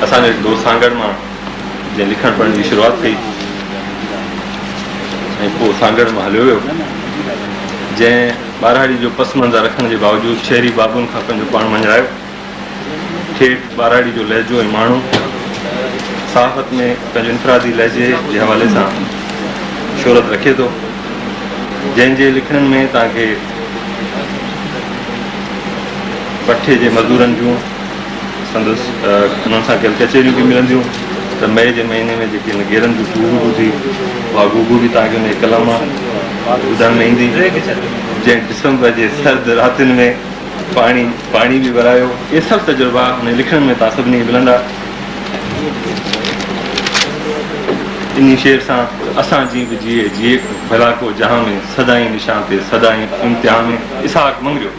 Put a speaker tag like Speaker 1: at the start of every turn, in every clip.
Speaker 1: اسان جي دوست سانگهڙ مان جنهن لکڻ پڙهڻ جي شروعات ڪئي ۽ پوء سانگهڙ مان هليو ويو جنهن ٻاراڙي جو پس منظر رکڻ جي باوجود شهري بابن کان پنهنجو پاڻ مڃرايو ٺيٺ ٻاراڙي جو لهجو ۽ ماڻهو صحافت ۾ پنهنجو انفرادي لهجي جي حوالي سان شهرت رکي ٿو جنهن جي لکڻين ۾ توهان کي پٺي جي مزدورن جون سندس انهن سان گڏ ڪچهريون به ملنديون ته مئي جي مهيني ۾ جيڪي هن گيرن جي گوگو ٻڌي اها گوگو به توهان کي انهيء قلم مان ٻڌڻ ۾ ايندي جنهن ڊسمبر جي سرد راتين ۾ پاڻي پاڻي به ورايو اهي سڀ تجربا انهن لکڻين ۾ توهان سڀني کي ملندا انهي شعر سان اسان جي به جيئي جيئي ڀلا ڪو جهان ۾ سدائين نشان تي سدائين امتحان ۾ اسحاق مڱريو.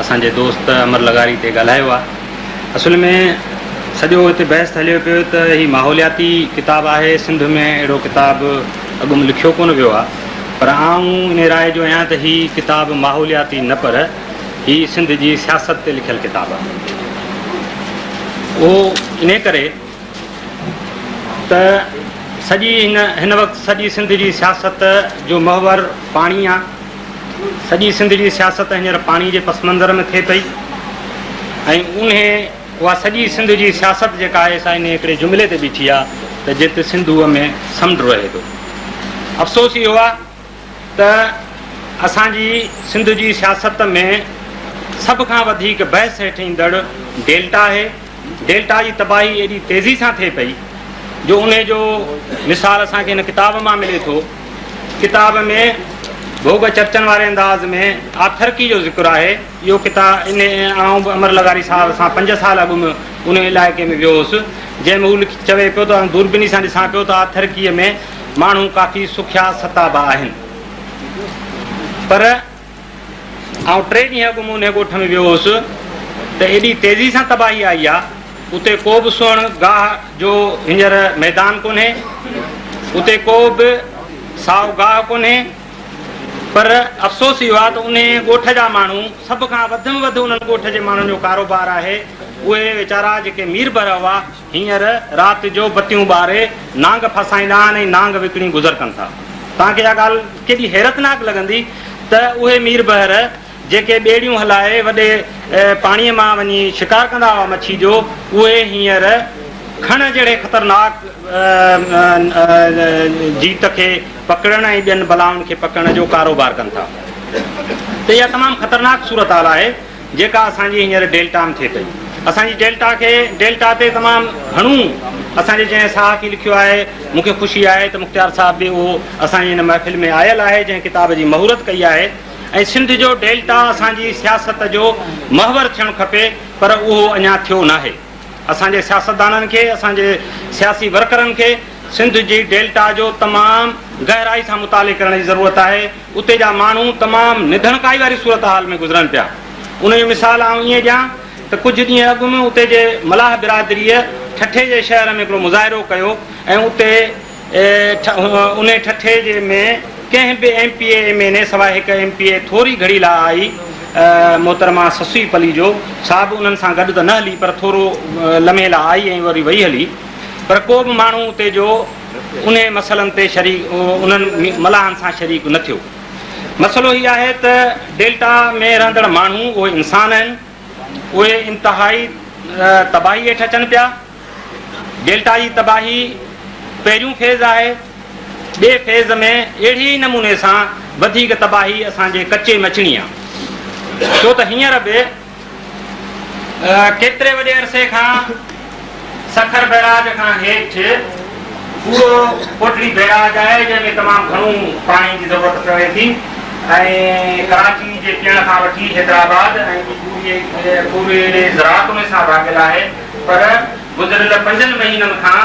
Speaker 2: اسان جي دوست امر لغاري تي ڳالهايو آهي. اصل ۾ سڄو هتي بحث ته هليو پيو ته هي ماحولياتي ڪتاب آهي، سنڌ ۾ اهڙو ڪتاب اڳ م لکيو ڪونه ويو آهي، پر آئون انهي راء جو آهيان ته هي ڪتاب ماحولياتي نه پر هي سنڌ جي سياست تي لکيل ڪتاب آهي. اهو انهي ڪري ته سڄي هن هن وقت سڄي سنڌ جي سياست جو محور پاڻي آ سڄي سنڌ جي سياست هينئر پاڻي جي پس منظر ۾ ٿئي پئي ۽ انهي اها سڄي سنڌ جي سياست جيڪا آهي سا انهي هڪڙي جملي تي بيٺي آ ته جت سنڌوء ۾ سمنڊ رهي ٿو افسوس اهو آ ته اسان جي سنڌ جي سياست ۾ سڀ کان وڌيڪ بحث هيٺ ايندڙ ڊيلٽا آهي، ڊيلٽا جي تباهي ايڏي تيزي سان ٿئي پئي جو انهي جو مثال اسان کي هن ڪتاب مان ملي ٿو، ڪتاب ۾ ڀوڳ چرچن واري انداز ۾ آٿرڪي جو ذڪر آهي، اهو ڪتا انهي آئون به امر لغاري صاحب سان پنج سال اڳ م انهي علائقي ۾ ويو هوس جنهن ۾ هو لک چوي پيو ته آئون دوربيني سان ڏسان پيو ته آٿرڪي ۾ ماڻهو ڪافي سکيا ستا به آهن پر آئون ٽي ڏينهن اڳ مون انهي ڳوٺ ۾ ويو هوس ته ايڏي تيزي سان تباهي آئي آ اتي ڪو به سنهڙ گاهه جو هينئر ميدان ڪونهي اتي ڪو به سائو گاهه ڪونهي پر افسوس اهو آ ته انهي ڳوٺ جا ماڻهو سڀ کان وڌ م وڌ انهن ڳوٺ جي ماڻهن جو ڪاروبار آهي اهي ويچارا جيڪي مير بر هئا هينئر رات جو بتيون ٻاري نانگ ڦاسائيندا آهن ۽ نانگ وڪڻي گذر ڪن ٿا. توهان کي اها ڳالهه ڪيڏي حيرتناڪ لڳندي ته اهي مير بحر جيڪي ٻيڙيون هلائي وڏي پاڻيء مان وڃي شڪار ڪندا هئا مڇي جو، اهي هينئر کڻ جهڙي خطرناڪ جيت کي پڪڙڻ ۽ ٻين بلائن کي پڪڙڻ جو ڪاروبار ڪن ٿا ته اها تمام خطرناڪ صورتحال آهي. جيڪا اسان جي هينئر ڊيلٽا م ٿئي پئي. اسان جي ڊيلٽا کي ڊيلٽا تي تمام گهڻو اسان جي جنهن صحافي لکيو آهي، مون کي خوشي آهي ته مختيار صاحب به اهو اسان جي هن محفل ۾ آيل آهي جنهن ڪتاب جي مهورت ڪئي آهي ۽ سنڌ جو ڊيلٽا اسان جي سياست جو محور ٿيڻ کپي پر اهو اڃا ٿيو ناهي. اسان جي سياستدانن کي اسان جي سياسي ورڪرن کي سنڌ جي ڊيلٽا جو تمام گهرائي سان مطالعي ڪرڻ جي ضرورت آهي. اتي جا ماڻهو تمام نڌڻڪائي واري صورتحال ۾ گذرن پيا. ان جو مثال آئون ائين ڏيان ته ڪجهه ڏينهن اڳ م اتي جي ملاح برادريء ٺٽي جي شهر ۾ هڪڙو مظاهرو ڪيو ۽ اتي انهي ٺٽي جي ۾ ڪنهن به M P A M N A سواء هڪ ايم پي اي ٿوري گهڙي لا آئي محترمه سسئي پليجو سا به انهن سان گڏ ته نه هلي پر ٿورو لمحي لا آئي ۽ وري وئي هلي پر ڪو به ماڻهو اتي جو انهن مسئلن تي انهن ملاحن سان شريڪ نه ٿيو. مسئلو هي آهي ته ڊيلٽا ۾ رهندڙ ماڻهو اهي انسان آهن، اهي انتهائي تباهي هيٺ اچن پيا. ڊيلٽا جي تباهي پهريون فيز آهي، ٻئي فيز ۾ اهڙي ئي نموني سان وڌيڪ تباهي اسان جي ڪچي م اچڻي آهي، ڇو ته هينئر به ڪيتري وڏي عرصي کان سکر بئراج کان هيٺ پورو ڪوٽڙي بئراج آهي جنهن ۾ تمام گهڻو پاڻي جي ضرورت پوي ٿي ۽ ڪراچي جي پيئڻ کان وٺي حيدرآباد ۽ پوري زراعت ان سان ڀاڳيل آهي پر گذريل پنجن مهينن کان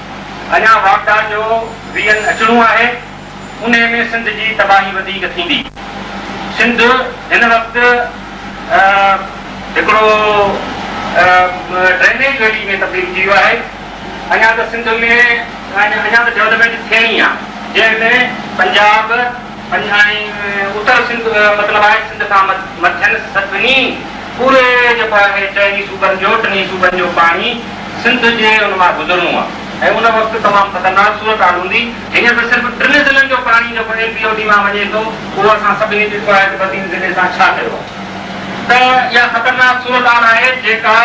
Speaker 2: اڃا واڪڊان جو ويهن اچڻو آهي، انهي ۾ سنڌ جي تباهي وڌيڪ ٿيندي. سنڌ هن وقت هڪڙو ڊرينيج ويلي ۾ تبديل ٿي ويو آهي، اڃا ته سنڌ ۾ اڃا ته ڊولپمينٽ ٿيڻي آهي، جنهن ۾ پنجاب، پنجاڻي، اتر سنڌ، مطلب آهي سنڌ کان مٿين سڀني پوري جيڪو آهي چئن ئي صوبن جو، ٽن ئي صوبن جو پاڻي سنڌ جي ان مان گذرڻو آهي ۽ ان وقت تمام خطرناڪ صورتحال هوندي. هينئر ته صرف ٽن ضلعن جو پاڻي جيڪو ايم پي او ڊي مان وڃي ٿو اهو اسان سڀني ڏٺو آهي ته بدين ضلعي سان ڇا ٿيو آهي ته اها خطرناڪ صورتحال آهي جيڪا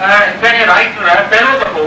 Speaker 2: هڪ رائٽر پهريون دفعو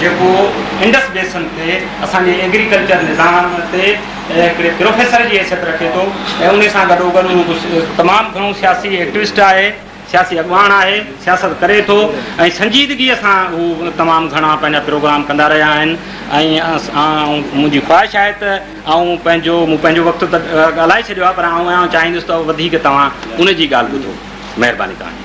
Speaker 2: جيڪو انڊس بيسن تي اسان جي ايگريڪلچر نظام تي هڪڙي پروفيسر جي حيثيت رکي ٿو ۽ ان سان گڏوگڏ هو تمام گهڻو سياسي ايڪٽوسٽ آهي، سياسي اڳواڻ آهي، سياست ڪري ٿو ۽ سنجيدگي سان هو تمام گهڻا پنهنجا پروگرام ڪندا رهيا آهن ۽ منهنجي خواهش آهي ته آئون پنهنجو مون پنهنجو وقت ته ڳالهائي ڇڏيو آهي پر آئون چاهيندس ته وڌيڪ توهان ان جي ڳالهه ٻڌو. مهرباني توهان جي.